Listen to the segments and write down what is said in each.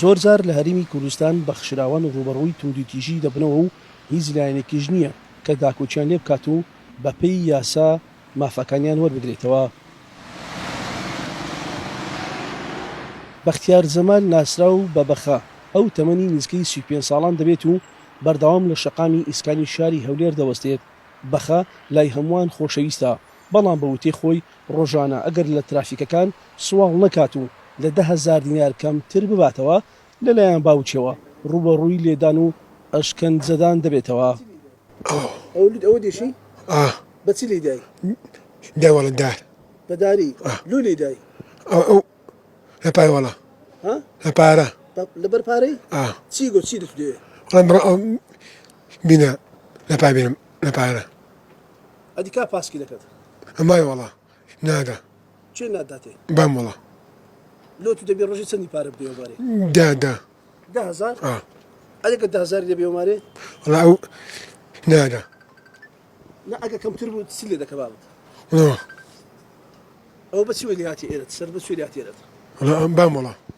زۆرجار لە هەرێمی کوردستان بەخشراوان ڕووبەڕووی توندوتیژی دەبنەوە و هیچ لایەنێکیش نییە کە داکۆکیان لێ بکات و بەپێی یاسا مافەکانیان وەربگرێتەوە. بەختیار جەمال ناسراو بە بەخە، ئەو تەمەنی نزیکەی سی و پێنج ساڵان دەبێت و بەردەوام لە شەقامی ئیسکانی شاری هەولێر دەوەستێت، بەخە لای هەمووان خۆشەویستە، بەڵام بە وتەی خۆی ڕۆژانە ئەگەر لە ترافیکەکان سواڵ نەکات و لە دە هەزار دینار کەمتر بباتەوە، لەلایەن باوکیەوە ڕووبەڕووی لێدان و ئەشکەنجەدان دەبێتەوە. ئەدی کا پاسکیلەکەت. ئەمای وەڵا نادا. کێ ناتداتێ. بام وەڵا. لۆ تو دەبێ ڕۆژێ چەندی پارە بدەیەوە مارێ. دە دە. دە هەزار؟ ئا. ئەرێ گەر دە هەزاری دەبێەوە مارێ؟ وەڵا ئەو نادا. نا ئەگە کەمتر بوو چی لێ دەکە بابت. نۆ. ئەوە بە چی وەی لێ هاتی ئێرەت سەر بە چی لێ هاتی ئێرەت. وەڵا بام وەڵا.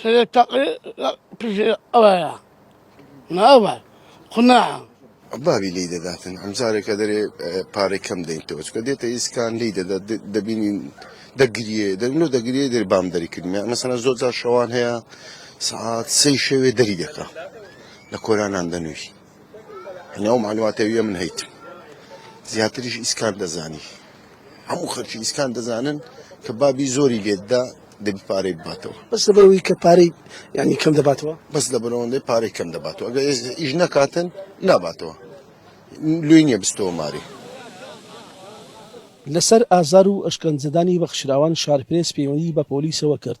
سەرێ تەقێ پشێ ئەوەیە ناوە قوناعە. بابی لێی دەداتن ئەمجارێک ئەدەرێ پارەی کەم دەینتەوە چکە دێتە ئیسکان لێی دەدات دەبینین دەگریێ دەبینۆ دەگریێ دەری بام دەری کردمە مەسەنە زۆر جار شەوان هەیە سعات سەی شەوێ دەری دەکە لە کۆرانان دەنووی ناو مەعلوماتەویە من هەیت زیاتریش ئیسکان دەزانی هەموو خەرکی ئیسکان دەزانن کە بابی زۆری لێتدا دەبی پارەی بباتەوە بەس لەبەرەوەی کە پارەی ینی کەم دەباتەوە بەس لە بەرەوەندەی پارەی کەم دەباتەوە ئەگە ئیش نەکاتن ناباتەوە لوی نییە بستەوە ماری لەسەر ئازار و ئەشکەنجەدانی بەخشراوان شارپرێس پەیوەندی بە پۆلیسەوە کرد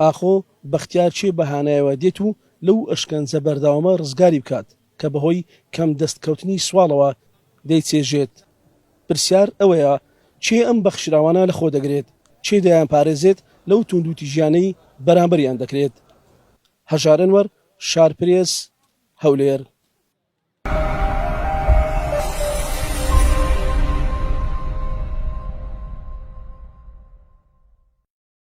ئاخۆ بەختیار چێ بەهانایەوە دێت و لەو ئەشکەنجە بەردەوامە ڕزگاری بکات کە بەهۆی کەم دەست کەوتنی سواڵەوە دەیچێژێت؟ پرسیار ئەوەیە چێ ئەم بەخشراوانە لەخۆ دەگرێت؟ چێ دەیانپارێزێت لەو توندوتیژیانەی بەرامبەریان دەکرێت؟ هەژار ئەنوەر، شارپرێس، هەولێر.